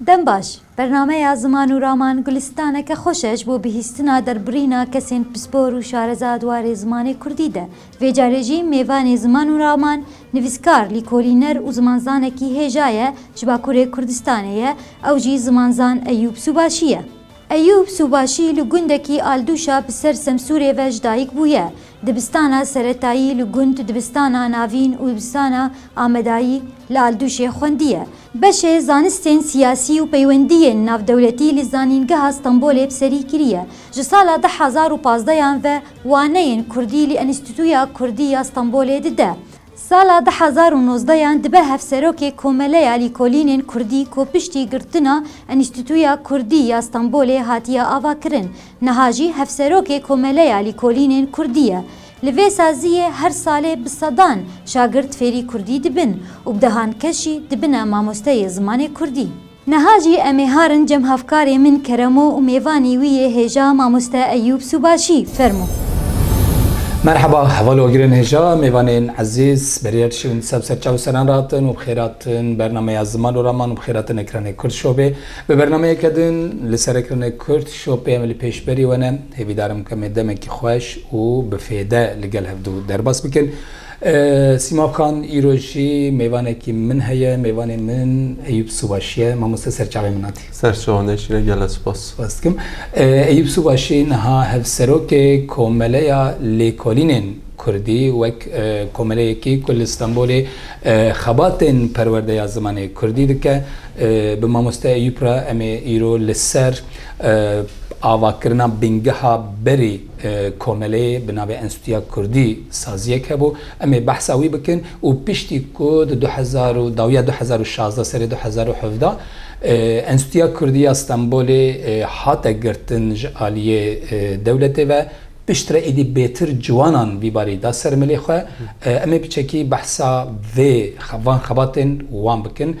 Dem baş. Bernameya Ziman û Raman gulistaneke xweş e ji bo bihîstina derbirîna kesên pispor û şareza di warê zimanê kurdî de. Vê carê jî mêvanê Ziman û Raman, nivîskar, lîkolîner û zimanzanekî hêja ye, ji Bakurê Kurdistanê ye, ew jî zimanzan Eyûb Sûbaşî ye. Eyûb Sûbaşî li gundekî Aldûşa bi ser Semsûrê ve ji dayik bûye. Dibistana seretayî li gund Dibistana Navîn û Dibistana Amedayî li Aldûşê xwendiye. Beşê zanistên siyasî û peywendiyên navdewletî li Zanîngeha Stenbolê bi serî kiriye. Ji sala du hezar û pazdeh yan ve waneyên kurdî li Enstîtuya Kurdî ya Stenbolê dide. Sala du hezar û nozdeh yan dibe Hevserokê Komeleya Lîkolînên Kurdî ku piştî girtina Enîstîtuya Kurdî ya Stenbolê hatiye avakirin, niha jî Hevserokê Komeleya Lîkolînên Kurdî ye. Li vê saziyê her salê bi sedan şagirt fêrî Kurdî dibin û bi dehan kes jî dibine mamosteyê zimanê Kurdî. Niha jî em ê harin cem hevkarê min Keremo û mêvanî wî yê hêja Mamoste Eyûb Sûbaşî. Fermo. Merheba, heval agirên hêja, mêvanên ezîz, berîyek ji wîn sev ser çav seran re hatin û bi xêr hatin bernameya Ziman û Raman û bi xêr hatin Ekranê Kurd Showê. Bi bernameyeke din li ser Ekranê Kurd Show pê em li pêşberî we ne. Hêvîdar im ku em ê demekî xweş û bi fêde li gel hevdu derbas bikin. Sîma Xan îro jî mêvanekî min heye, mêvanê min Eyûp Subaşî ye. Mamoste ser çavên min hatî. Ser çawa ne şîn e gele spas. Spas dikim. Eyûp Subaşî niha hevserokê Komeleya Lêkolînên Kurdî wek komeleyekî ku li Stenbolê xebatên perwerdeya zimanê Kurdî dike. Bi mamoste Eyûp re em ê îro li ser Avakirina bîngeha berî komeleyê bi navê Enstîtuya Kurdî saziyek hebû. Em ê behsa wî bikin û piştî ku di du hezar û dawiya du hezar û şazdeh serê du hezar û hevdeh Enstîtuya Kurdî ya Stenbolê hate girtin ji aliyê dewletê ve, piştre êdî bêtir ciwanan vî barî da ser milê xwe. Em ê bi çekî behsa vê van xebatên wan bikin.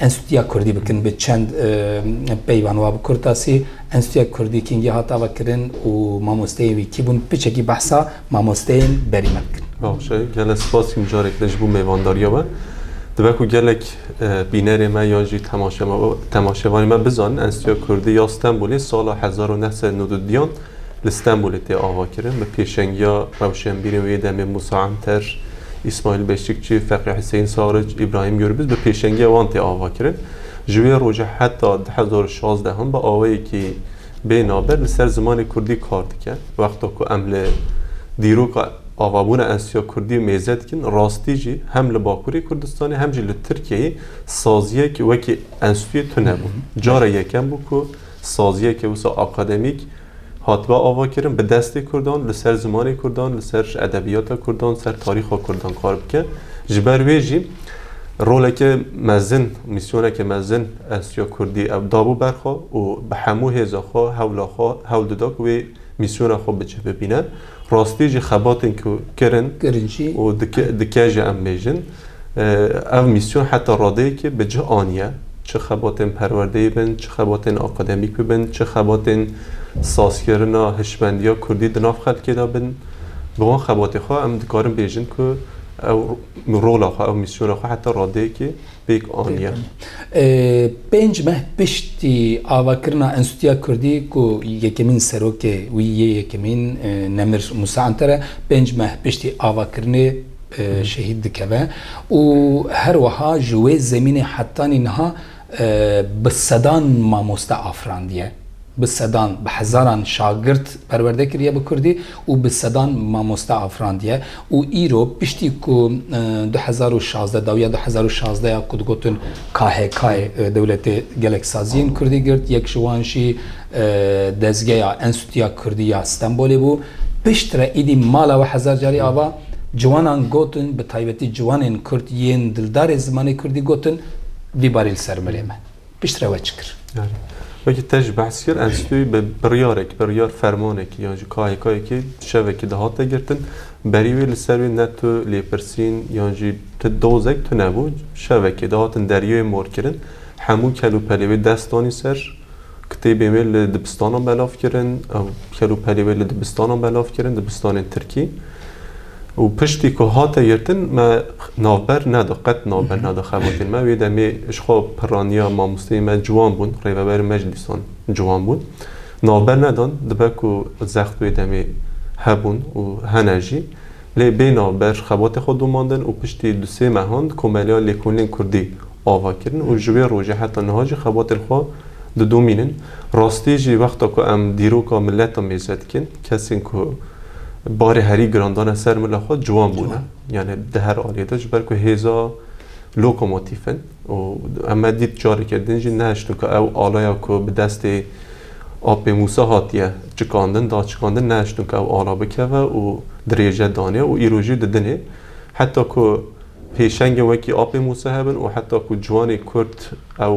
Enstîtuya Kurdî bikin bi çend peyvan wa bi kurtasî Enstîtuya Kurdî kingî hat ava kirin û mamosteyên wî kî bûn piçekî behsa mamosteyên berî me bikin. Bavşe gelek spas jî mijarek din ji bo mêvandariya we. Dibe ku gelek bînerê me yan jî temaşevanê me bizanin Enstîtuya Kurdî ya Stenbolê sala hezar û neh sed û nod û duyan li Stenbolê tê avakirin bi pêşengiya rewşenbîrên wê demê Mûsa Enter, Îsmaîl Beşikçi, Feqî Huseyîn Saric, Îbrahîm Gurbiz bi pêşengiya wan tê avakirin. Ji wê roja heta du hezar û şazdeh hûn bi awayekî bê naber li ser zimanê kurdî kar dikin. Wexta ku em li dîroka avabûna enstîtuya kurdî mêze dikin, rastî jî hem li Bakurê Kurdistanê hem jî li Tirkiyeyê saziyek wekî enstîtuyê tune bû. Cara yekem bû ku saziyeke wisa akademîk hatibe avakirin bi destê Kurdan li ser zimanê Kurdan, li ser edebiyata Kurdan, ser tarîxa Kurdan kar bike. Ji ber wê jî roleke mezin, mîsyoneke mezin Enstîtuya Kurdî ew dabû ber xwe û bi hemû hêza xwe, hewla xwe hewl dida ku wê mîsyona xwe bi cih bibîne. Rastî jî xebatên ku kirin û dike jî em bêjin ev mîsyon heta radeyekê bi cih aniye. Çi xebatên perwerdeyê bin, çi xebatên akademîk bibin, çi xebatên sazkirina hişmendiya kurdî di nav xelkê de bin, bi wan xebatê xwe em dikarin bêjin ku ew rola xwe, ew mîsyona xwe heta radeyekê, pêk aniye. Pênc meh piştî avakirina Enstîtuya Kurdî ku yekemîn serokê wî yê yekemîn Nemir Musa Anter e, pênc meh piştî avakirinê şehîd dikeve û her wiha ji wê zemînê hetanî niha bi sedan mamoste afirandiye. Bi sedan, bi hezaran şagirt perwerde kiriye bi kurdî û bi sedan mamoste afirandiye û îro piştî ku du hezar û şazdeh dawiya du hezar û şazdeh ya ku digotin KHK'ê dewletê gelek saziyên kurdî girt yek ji wan jî dezgeya Enstîtuya Kurdî ya Stenbolê bû piştre îdî mala we hezar carî ava ciwanan gotin bi taybetî ciwanên kurd yên dildarê zimanê kurdî gotin vî barî li ser milê me. Piştre we çi kir? Wekî te jî behs kir, Enstîtoyê bi biryarekî, biryar fermanekî yan jî KHK'yekê şevekî dihate girtin. Berî wê li ser wê ne tu lêpirsîn yan jî tu dozek tune bû. Şevekê dihatin deryayê morkirin. Hemû kelûpelê wê dest danî ser. Kitêbên wê li dibistanan belav kirin. Ew kelûpelê wê li dibistanan belav kirin, dibistanên tirkî. Û piştî ku hate girtin me navber neda, qet navber neda xebatên me. Wê demê ji xwe pirraniya mamosteyên me ciwan bûn, rêveberên me jî dîsan ciwan bûn. Navber nedan, dibe ku zext wê demê hebûn û hene jî. Lê bê navber xebatê xwe domandin û piştî du sê mehan di komeleya lêkolînên kurdî ava kirin û ji wê rojê heta niha jî xebatên xwe didomînin. Rastî jî wexta ku em dîroka mileta mêze dikin, Kesên ku barê herî giran dane ser mila xwe ciwan bûne. Yani di her aliyê de ji ber ku hêza lokomotîf in û me dît careke din jî nehiştin ku ew alaya ku bi destê Apê Mûsa hatiye çikandin, da çikandin nehiştin ku ew ala bikeve û dirêje danê û îro jî didinê. Heta ku pêşengên wekî Apê Mûsa hebin û heta ku ciwanê Kurd ew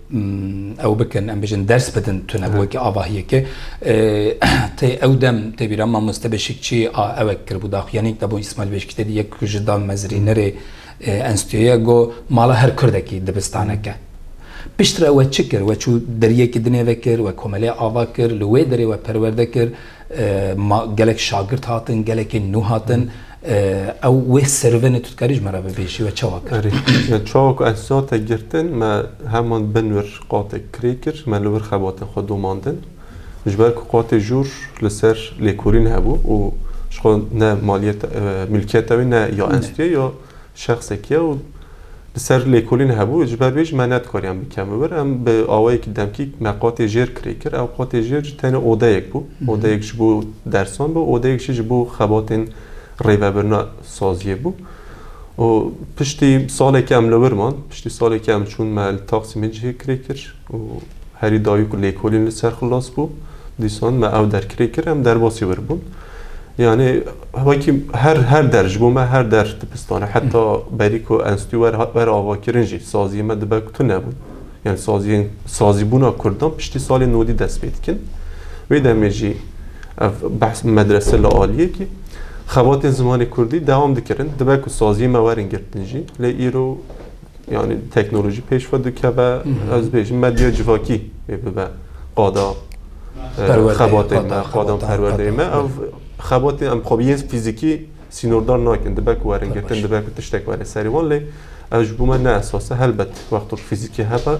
ew bikin em bijin ders bidin tune bi wekî avahiyeke tê ew dem tê bîra mamoste beşikçî a ewek kiribû daxuyanîk de bo îsmail beşikçî tê yek ku ji dan mezrînerê enstitûyeye go mala her kurdekî dibistaneke piştre we çi kir we çû deriyekî dinê vekir we komelê ava kir li wê derê we perwerde kir Ma gelek şagirt hatin, gelekên nû hatin. Ew wê servenê tu dikarî ji me re bibêjî we çawa kir? Erê, çawa ku ez zate girtin, me heman bin wir qatek kirê kir, me li wir xebatên xwe domandin. Ji ber ku qatê jûr li ser lêkolîn hebû û ji xwe ne maliyeta, milkiyeta wê ne ya enstîyê ya Şexsek ya û li ser lêkolîn hebû, ji ber wê jî me nedikarîyan bikem li wir. Em bi awayekî demkî me qatê jêr kirê kir. Ew qatê jêr jî tenê odeyek bû. Odeyek ji bo dersan bû, odeyek jî ji bo xebatên rêvebirina saziyê bû. Û piştî salekî em li wir man. Piştî salekî em çûn me li Taksîmê cihê kirê kir. Û herî dawî ku lêkolîn li ser xilas bû, dîsan me ew derkirê kir, em derbasî wir bûn. Yanê wekî her her der ji bo me her der dibistan e. Heta berî ku enstî wer hat wer avakirin jî saziyê me dibe ku tune bûn. Yanê saziyên sazîbûna kurdan piştî salê nodî dest pê dikin. Wê demê jî ev behs medrese li aliyekî xebatên zimanê kurdî dewam dikirin. Dibe ku saziyê me werin girtin jî lê îro yani teknolojî pêşve dikeve ez bêjim medya civakî ê bibe qada xebatê me qada perwerdeyê me ev xebatê em xwe yên fîzîkî sînordar nakin dibe ku werin girtin dibe ku tiştek were serê wan lê ev ji bo me ne esas e helbet wexto ku fîzîkî hebe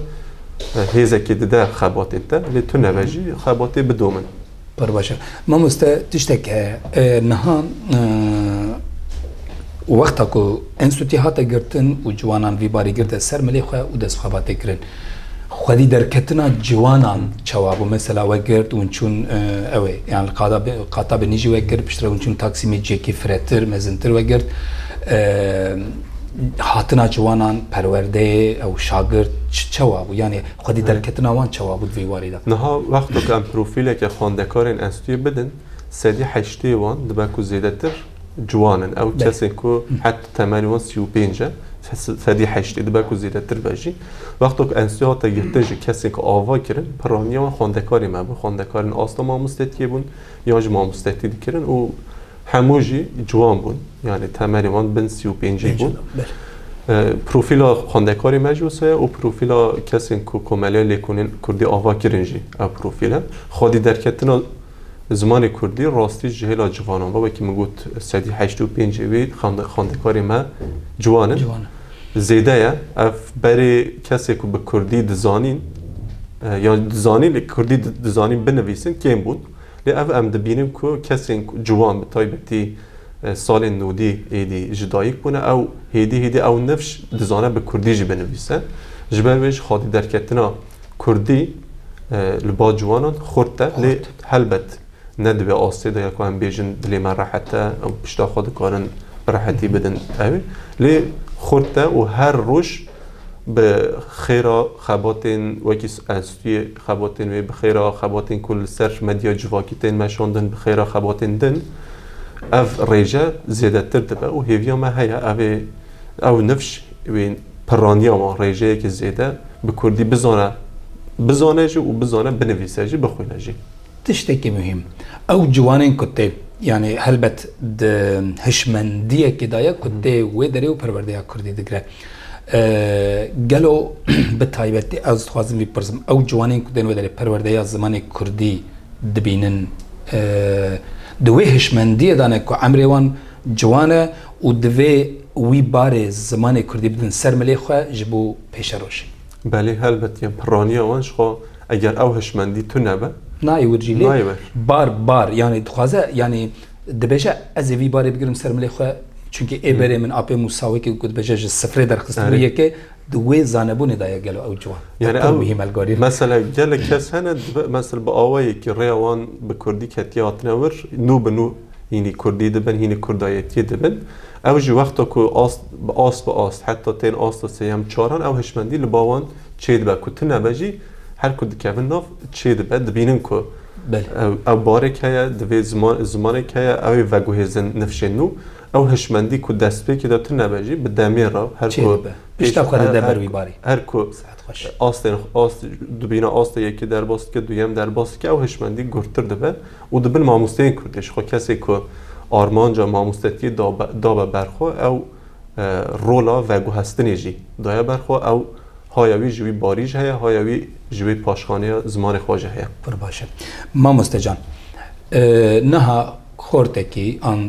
hêzekê dide xebatê te lê tu nebe jî xebatê bidomin Pir baş e. Mamoste tiştek heye. Niha wexta ku enstîtûyê hate girtin û ciwanan vî barî girte ser milê xwe û dest bi xebatê kirin. Xwedî derketina ciwanan çawa bû? Mesela we girt û çûn ew ê yan li qada bi qata bi nîjî we kir piştre hûn çûn taksîmê cihekî firetir, mezintir we girt. Hatina ciwanan perwerdeyê ew şagirt çawa bû? Yanê Xwedî derketina wan çawa bû di vê warê de? Niha wexto ku em profîleke xwendekarên enstîtûyê bidin, sedî heştê wan dibe ku zêdetir ciwan in. Ew kesên ku het temelê wan sî û pênc e, sedî heştê dibe ku zêdetir be jî. Wexto ku enstîtû hate girtin ji kesên ku ava kirin, pirraniya wan xwendekarê me bû. Xwendekarên asta mamostetiyê bûn yan jî mamostettî dikirin û Hemû jî ciwan bûn. Yanî temelê wan bin sî û pêncî bû. Profîla xwendekarê me jî wisa ye û profîla kesên ku komeleya lêkolîn kurdî ava kirin jî ev profîl e. Xwedî derketina zimanê kurdî rastî ji hêla civanan ve wekî min got sedî heşt û pênc wî xwendekarê me ciwan in zêde ye. Ev berê kesê ku bi kurdî dizanîn yan dizanîn lê kurdî dizanîn binivîsin kêm bûn. Lê ev em dibînin ku kesên ciwan bi taybetî salên nûdî êdî ji dayik bûne ew hêdî hêdî ew nifş dizane bi kurdî jî binivîse. Ji ber wê ji xadî derketina kurdî li ba ciwanan xurt e. Lê helbet ne di vê astê de ye ku em bêjin dilê me rehet e û pişta xwe dikarin bi rehetî bidin ew. Lê xurt e û her roj bi xêra xebatên wekî Spî xebatên wê bi xêra xebatên ku li ser medya civakî tên meşandin bi xêra xebatên din ev rêje zêdetir dibe û hêviya me heye ev ê ew nifş wê pirraniya wan rêjeyekî zêde bi kurdî bizane bizane jî û bizane binivîse jî bixwîne jî. Tiştekî muhîm, ew ciwanên ku tê, yanî helbet di hişmendiyekê de ye ku tê wê derê û perwerdeya kurdî digire. Gelo bi taybetî ez dixwazim bipirsim, ew ciwanên ku tên wê derê perwerdeya zimanê kurdî dibînin, di wê hişmendiyê de ne ku emrê wan ciwan e û divê wî barê zimanê kurdî bidin ser milê xwe ji bo pêşerojê? Belê helbet yan pirraniya wan jixwe eger ew hişmendî tune be. Nayê wir jî lê Nayê wir. bar bar yanî dixwaze yanî dibêje ez ê vî barê bigirim ser milê xwe çunkî ê berê min apê Mûsa wekî ku dibêje ji sifrê derxistibû Erê. yekê di wê zanebûnê de ye gelo ew ciwan e Yani pir ew muhîm elgorî. mesela gelek kes hene dibe mesela bi awayekî rêya wan bi kurdî ketiye hatine wir nû bi nû Hînî kurdî dibin, hînî kurdayetiyê dibin. Ew ji wexta ku ast bi ast bi ast heta tên asta sêyem çaran ew hişmendî li ba wan çêdibe ku tune be jî her ku dikevin nav çêdibe dibînin ku ew barek heye divê zimanek heye ew ê veguhêzin nifşên nû ew hişmendî ku destpêkê de tune be jî bi demê re her ku pişta xwe dide ber wî barê her ku astên ast dibîne asta yekê derbas dike duyem derbas dike ew hişmendî gurtir dibe. Û di bin mamosteyên Kurdê jixwe kesê ku armanca mamostetiyê dabe ber xwe ew rola veguhestinê jî daye ber xwe ew haya wî ji wî barî jî heye haya wî ji wê paşxaneya zimanê xwe jî heye. Pir baş e. Mamoste can niha xortekî an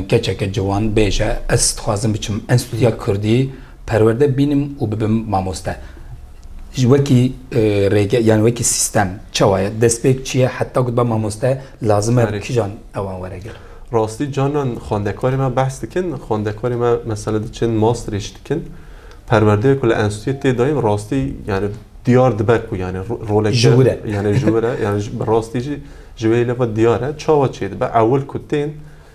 keçeke ciwan bêje ez dixwazim biçim enstîtuya Kurdî Perwerde bînim û bibim mamoste. Ji wekî rêge yanî wekî sîstem çawa ye? Destpêk çi ye heta ku dibe mamoste lazim e kijan ew an were gel? Rastî carnan xwendekarê me behs dikin, xwendekarê me mesele diçin masterê jî dikin. Perwerdeya ku li enstîtuyê tê dayîn rastî yanî diyar dibe ku yanî roleke ji wir e. Yanî ji wir e, yanî bi rastî jî ji wê hêle ve diyar e. Çawa çêdibe? Ewil ku tên.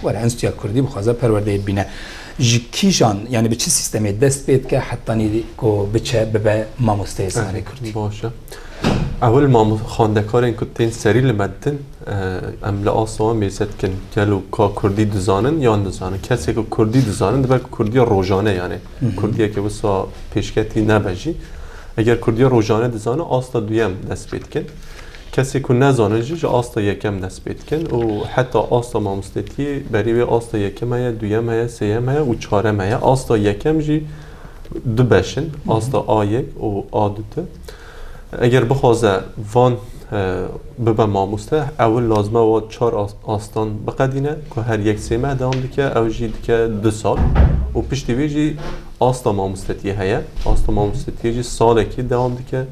Were Enstîtuya Kurdî bixwaze perwerdeyê bibîne. Ji kîjan yanî bi çi sîstemê dest pê dike hetanî ku biçe bibe mamosteyê zimanê Kurdî? Baş e. Ewil xwendekarên ku tên serî li me ditin em li asta wan mêze dikin gelo ka Kurdî dizanin yan nizanin. Kesê ku Kurdî dizanin dibe ku Kurdiya rojane yanê Kurdiyeke wisa pêşketî nebe jî. Eger Kurdiya rojane dizanin asta duyem dest pê dikin. Kesê ku nezanin jî ji asta yekem dest pê dikin û heta asta mamostetiyê berî wê asta yekem heye, duyem heye, sêyem heye û çarem heye. Asta yekem jî du beş in, asta A yek û A du ti. Eger bixwaze van bibe mamoste ewil lazime wa çar astan biqedîne ku her yek sê meh dewam dike ew jî dike du sal û piştî wê jî asta mamostetiyê heye. Asta mamostetiyê jî salekê dewam dike.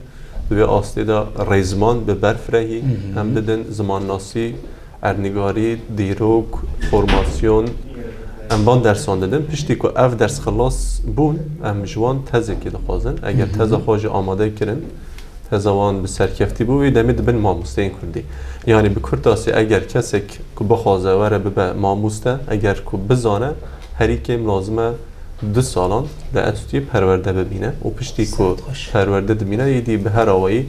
Di vê astê de rêziman bi berf re hî hem didin, zimannasî, erdnigarî, dîrok, formasyon, em van dersan didin. Piştî ku ev ders xilas bûn, em ji wan tezekê dixwazin. Eger teza xwe jî amade kirin, teza wan bi serkeftî bû, wê demê dibin mamosteyên Kurdî. Yanî bi kurtasî eger kesek ku bixwaze were bibe mamoste, eger ku bizane herî kêm lazim e, du salan li enstîtûyê perwerde bibîne û piştî ku perwerde dibîne êdî bi her awayî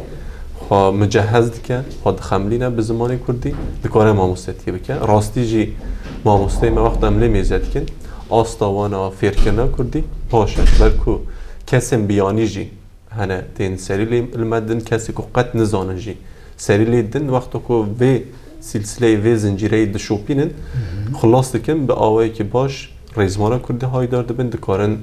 xwe micehez dike, xwe dixemilîne bi zimanê kurdî, dikare mamostetiyê bike. Rastî jî mamosteyê me wexta em lê mêze dikin asta wan a fêrkirina kurdî baş e. Ber ku kesên biyanî jî hene tên serî lê li me din kesê ku qet nizanin jî serî lê din wexta ku vê sîlsîleyê vê zincîreyê dişopînin xilas dikin bi awayekî baş. Rêzmara kurdî haydar dibin dikarin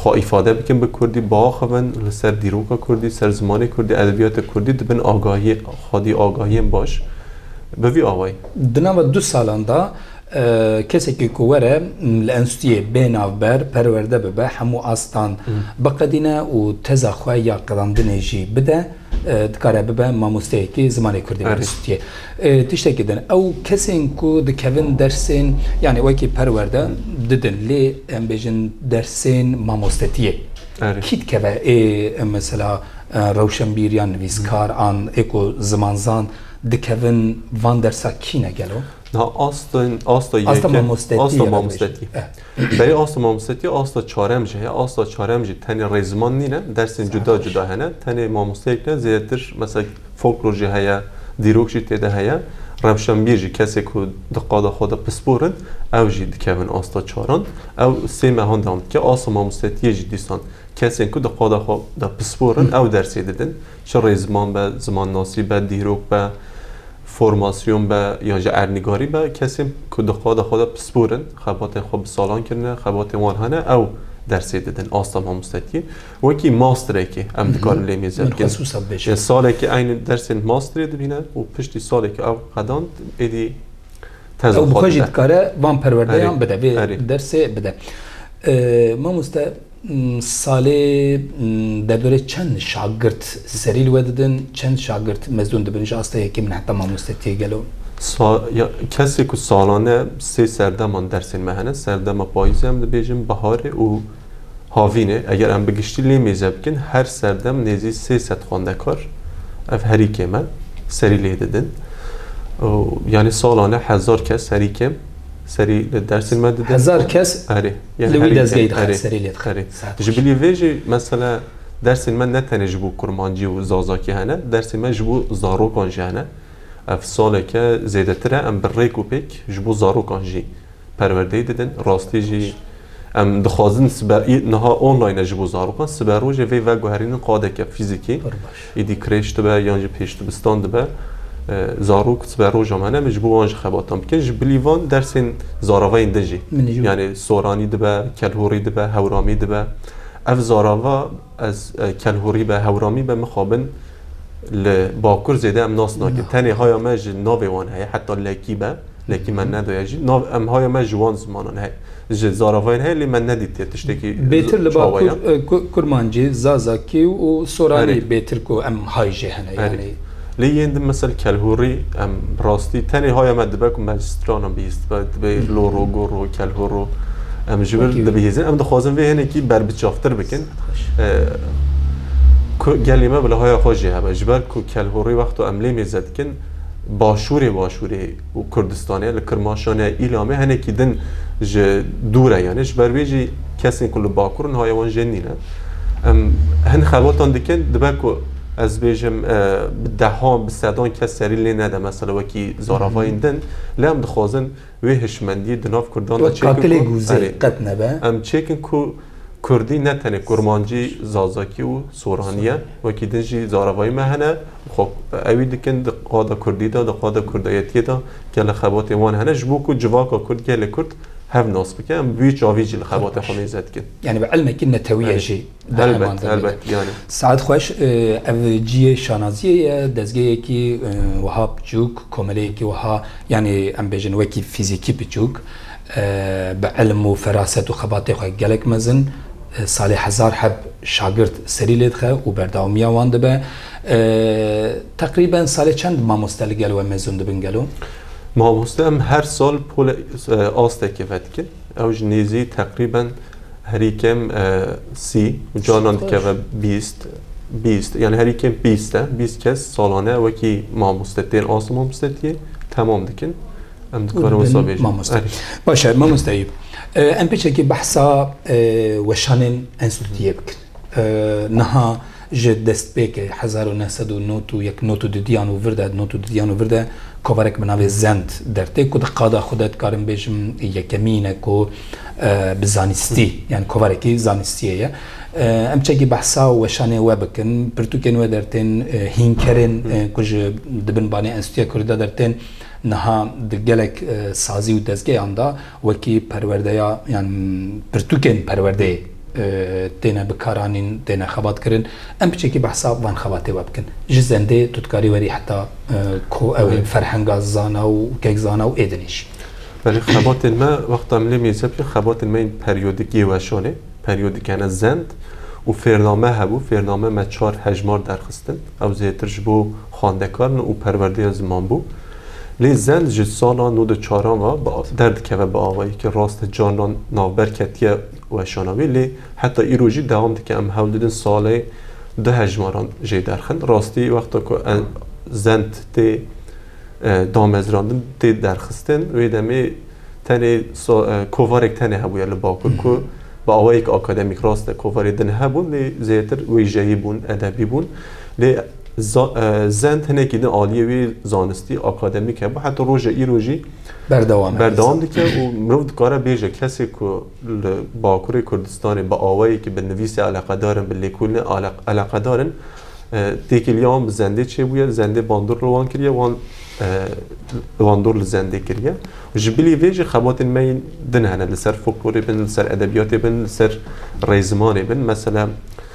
xwe îfade bikin bi kurdî, biaxivin li ser dîroka kurdî, ser zimanê kurdî, edebiyatê kurdî dibin agahiyê xwedî agahiyên baş bi vî awayî. Di nava du salan de kesekî ku were li enstîtûyê bê navber perwerde bibe hemû astan biqedîne û teza xwe ya qedandinê jî bide. dikare bibe mamosteyekî zimanê Kurdî were Sûtiyê. Tiştekî din ew kesên ku dikevin dersên yanî wekî perwerde didin lê em bêjin dersên mamostetiyê. Kî dikeve ê mesela rewşenbîr yan nivîskar an ê ku zimanzan dikevin van dersa kî ne gelo? Asta mamostetiyê. Berê asta mamosteya asta çarem jî heye. Asta çarem jî tenê rê ziman nîne. Dersên cuda cuda hene. Tenê mamosteyek ne zêdetir mesela folklor jî heye, dîrok jî tê de heye. Rewşenbîr jî kesê ku di qada xwe de pispor in ew jî dikevin asta çaran. Ew sê mehan dewam dike. Asta mamostetyê jî dîsan kesên ku di qada xwe de pispor in ew dersê didin. Çi rê ziman be, zimannasî be, dîrok be, formasyon be yan jî erdnîgarî be, kesên ku di xweda xwe de pispor in, xebatên xwe bi salan kirine, xebatên wan hene ew dersê didin asta mamostetiyê. Wekî masterekê em dikarin lê mêze Min bikin. xesûsa bibêje. Yê salekê eynî dersên masterê dibîne û piştî salekê ew qedand êdî teza Ew bi xwe xwe jî dide. dikare van Erê, perwerdeyan bide, vê erê. dersê bide. Ee, Mamoste Salê deverê çend şagirt serî li we didin? Çend şagirt mezun dibin ji asta yekê min heta mamostetiyê gelo? Kesê ku salane sê serdeman dersên me hene, serdema payîzê em dibêjin, biharê û havînê. Eger em bi giştî lê mêze bikin her serdem nêzî sê sed xwendekar ev herî kêm e serî lê didin. Yanî salane hezar kes herî kêm serî dersên me didin. Hezar kes? Erê. Li wî dezgehê dixin serê lê dixin. Ji bilî vê jî mesela dersên me ne tenê ji bo kurmancî û zazakî hene, dersên me ji bo zarokan jî hene. Ev saleke zêdetir e em bi rêk û pêk ji bo zarokan jî perwerdeyê didin. Rastî jî em dixwazin sibe niha online e ji bo zarokan, siberojê vê veguherînin qadeke fîzîkî. Pir baş. Êdî krêç dibe yan jî pêş dibistan dibe, zarok sibe roja me ne min ji bo wan jî xebatan bikin. Ji bilî van dersên zaravayên din jî yanê soranî dibe, kelhûrî dibe, hewramî dibe. Ev zarava ez kelhûrî be, hewramî be mixabin li bakur zêde em nas nakin. Tenê haya me ji navê wan heye heta lekî be, lekî me nedaye jî. Nav em haya me ji wan zimanan heye. Ji zaravayên heye lê me nedîtiye tiştekî Bêtir li çawa ye. Bakur, Kurmancî, Zazakî û Soranî Erê. bêtir ku em hay jê hene Erê. yanî. Lê yên din mesel Kelhûrî em bi rastî tenê haya me dibe ku me ji stranan bihîstibe, dibe Loro, Goro, Kelhoro em ji vir Wekî wî. dibihîzin. Em dixwazin vê hinekî berbiçavtir bikin. Dest xweş. Ku gelê me bi lihaya xwe jê hebe. Ji ber ku Kelhorî wexta em lê mêze dikin Başûrê Başûrê, û Kurdistanê, li Kirmaşanê, Îlamê hinekî din ji dûr e yanî ji ber wê jî kesên ku li Bakur in haya wan jê nîn e. Em hin xebatan dikin dibe ku ez bêjim bi dehan bi sedan kes serî lê nede mesela wekî zaravayên din lê em dixwazin wê hişmendiyê di nav Kurdan de çêkin em çêkin ku Kurdî ne tenê Kurmancî, Zazakî û Soranî ye wekî din jî zaravayên me hene. Xwe ewî dikin di qada kurdî de, di qada kurdayetiyê de ke li xebatên wan hene ji bo ku civaka kurd, gelê kurd hev nas bike. Em bi vî çavî jî li xebatê xwe mêze dikin. Yanî bi ilmekî netewiyê jî di heman Helbet, demê de. helbet yanî. Saet xweş, ev ciyê şanaziyê ye, dezgehekî wiha piçûk, komeleyekî wiha yanî em bêjin wekî fîzîkî piçûk, bi ilm û feraset û xebatê xwe gelek mezin, salê hezar heb şagird serî lê dixe û berdewamiya wan dibe. Teqrîben salê çend mamoste li gel we mezûn dibin gelo? Mamoste em her sal pola asteke vedikin. Ew ji nêzî teqrîben herî kêm sî û canan dikeve bîst bîst yanî herî kêm bîst e. Bîst kes salane wekî mamoste tên asta mamostetiyê temam dikin. Em dikarin wisa bêjin. Baş e, mamoste Eyûb. Em pêçekî behsa weşanên enstîtûyê bikin. Niha ji destpêkê hezar û neh sed û nod û yek not û didiyan û vir de not û didiyan û vir de kovarek bi navê Zend dertê ku di qada xwe de dikarim bêjim yekemîn e ku bi zanîstî yan kovarekî zanîstiyê ye. Em çekî behsa û weşanê we bikin. Pirtûkên we dertên hînkerên ku ji di bin banê Enstîtuya Kurdî de dertên niha di gelek sazî û dezgeyan de Wekî perwerdeya yan pirtûkên perwerdeyê têne bikaranîn, têne xebatkirin. Em piçekî behsa van xebatê we bikin. Ji zendê tu dikarî werî heta ko ew ê ferhenga zana û kekzana û êdinê jî. Belê xebatên me wexta milê mêze bike xebatên me yên peryodik yê weşan ê. Peryodik hene zend û fêrname hebû. Fêrname me çar hejmar derxistin. Ew zêtir ji bo xwendekarin û perwerdeya ziman bû. Lê zend ji sala nû di çaran ve derdikeve bi awayekî rast e carnan navber ketiye weşana wî lê heta îro jî dewam dike em hewl didin salê du hejmaran jê derxin rastî wexta ku zend tê damezrandin tê derxistin wê demê tenê kovarek tenê hebûye li bakur ku bi awayek akademîk rast e kovarê din hebûn lê zêdetir wêjeyî bûn edebî bûn lê Zend hinekî din aliyê wê zanistî akademîk hebû heta roja îro jî berdewam dike û mirov dikare bêje kesê ku li Bakurê Kurdistanê bi awayekî bi nivîsê eleqedar in, bi lêkolînê eleqedar in têkiliya wan bi zendê çêbûye, zendê bandor li wan kiriye, wan bandor li zendê kiriye. Ji bilî vê jî xebatên me yên din hene li ser foklorê bin, li ser edebiyatê bin, li ser rêzimanê bin. Mesela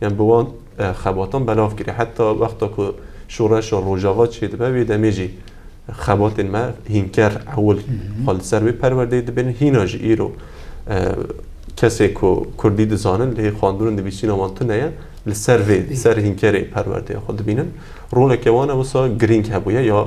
Yan bi wan xebatan belav kiriye. Heta wexta ku şoreşa Rojava çêdibe wê demê jî xebatên me hînker ewil xwe li ser wê perwerdeyê dibêrin. Hîna jî îro kesê ku Kurdî dizanin lê xwendin û nivîsîna wan tune ye li ser vê li ser hînkerê perwerdeya xwe dibînin. Roleke wan e wisa girîng hebûye ya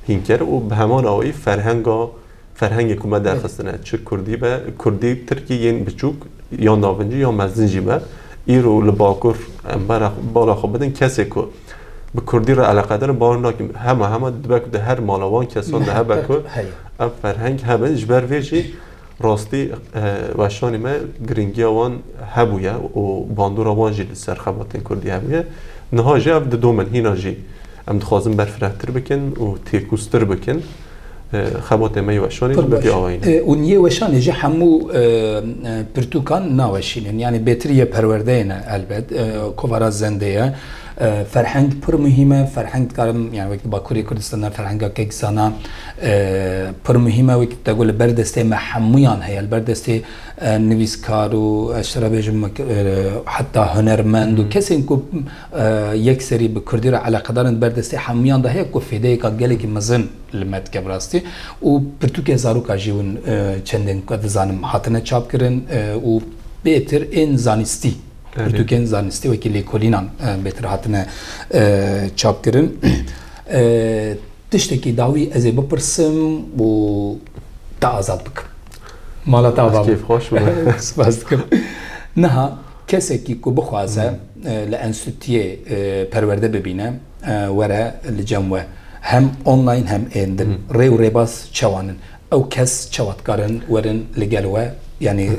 hînker û bi heman awayî ferhenga Ferhengê ku me derxistine çi kurdî be, kurdî tirkî yên biçûk ya navincî ya mezin jî be, îro li bakur em bala xwe bidin kesê ku bi kurdî re eleqedar in bawer nakim hema hema dibe ku di her mala wan kesan de hebe ku ev ferheng hebin ji ber vê jî rastî weşanê me girîngiya wan hebûye û bandora wan jî li ser xebatên kurdî hebûye. Niha jî ev didome hîna jî em dixwazin berfirehtir bikin û têkûztir bikin. Xebatê me yê weşanê jî bêpî awayî ne. Û yê weşanê jî hemû pirtûkan naweşînin. Yanî bêtir yê perwerdeyê ne elbet. Kovara zendê ye. Ferheng pir muhîm e. Ferheng dikarim yanî wek di Bakurê Kurdistan de ferhenga kekzana pir muhîm e. Wek de got li ber destê me hemûyan heye. Li ber destê nivîskar û ez çi re bêjim heta hunermend û kesên ku Yek serî bi kurdî re eleqedar in, di ber destê hemûyan de heye ku fêdeyeka gelekî mezin li me dike bi rastî û pirtûkên zaroka jî win çendên ku ez dizanim hatine çapkirin û bêtir ên zanistî pirtûkên zanistî wekî lêkolînan bêtir hatine çapkirin. Tiştekî dawî ez ê bipirsim û te azad bikim. Mala te ava min. Spas dikim. Niha. Kesekî ku bixwaze li enstîtûyê perwerde bibîne were li cem we hem online hem ên din rê û rêbaz çewan in? Ew kes çewa dikarin werin li gel we yanî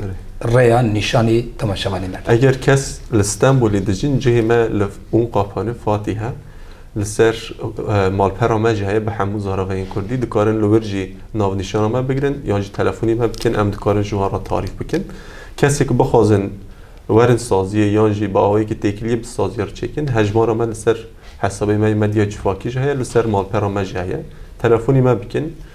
rêya nîşanî temaşevanê me? Eger kes li Stenbolê dijîn cihê me li Unqafan e, Fatîh e. Li ser malpera me jî heye bi hemû zaraveyên kurdî. Dikarin li wir jî navnîşana me bigirin yan jî telefonî me bikin em dikarin ji wan re tarîf bikin. Kesê ku bixwazin werin saziyê yan jî bi awayekî têkiliyê bi saziya re çêkin hejmara me li ser hesabê me yê Medya Cifakî jî heye li ser malpera me jî heye telefonî me bikin.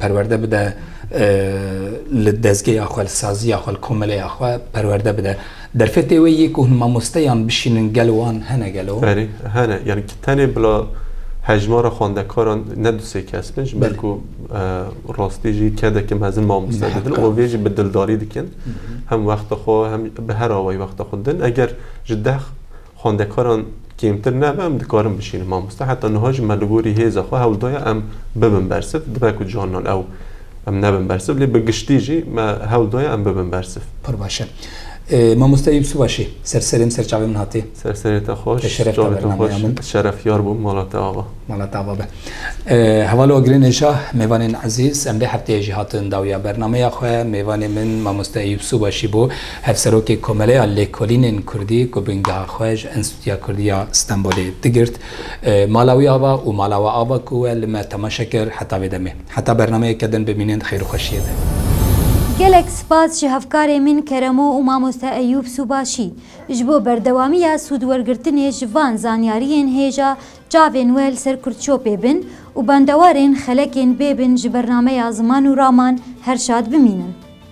Perwerde bide li dezgeya xwe, li saziya xwe, li komeleya xwe perwerde bide. Derfetê wê yê ku hûn mamosteyan bişînin gel wan hene gelo? Berê hene. Yanî ki tenê bila hejmara xwendekaran ne du sê kes bin, ji ber ku rastî jî kedeke mezin mamoste didin û vê jî bi dildarî dikin. Hem wexta xwe hem bi her awayî wexta xwe didin. Eger ji deh Xwendekaran kêmtir nebe em dikarin bişînin mamoste heta niha jî me li gorî hêza xwe hewl daye em bibin bersiv dibe ku carinan ew em nebin bersiv lê bi giştî jî me hewl daye em bibin bersiv. Pir baş e. Mamoste Yûsûf Aşê ser serê min ser çavê min hatê. Ser serê te xweş. Te şeref da Çavê te bernameya xweş. min. Ez şerefyar bûm mala te ava. Mala te ava be. Heval Ogirê Neja, mêvanên ezîz, em vê hefteyê jî hatin dawîya bernameya xwe. Mêvanê min mamoste Eyûp Sûbaşî bû. Hevserokê Komeleya Lêkolînên Kurdî ku bingeha xwe ji Enstîtuya Kurdî ya Stenbolê digirt, mala wî ava û mala we ava ku we li me temaşe kir heta vê demê. Heta bernameyeke din bimînin di xêr û xweşiyê de. Gelek spas ji hevkarê min Keremo û mamoste Eyûb Sûbaşî ji bo berdewamiya sûdwergirtinê ji van zanyariyên hêja çavên we li ser Kurdçopê bin û bendewarên xelekên bê bin ji bernameya Ziman û Raman her şad bimînin.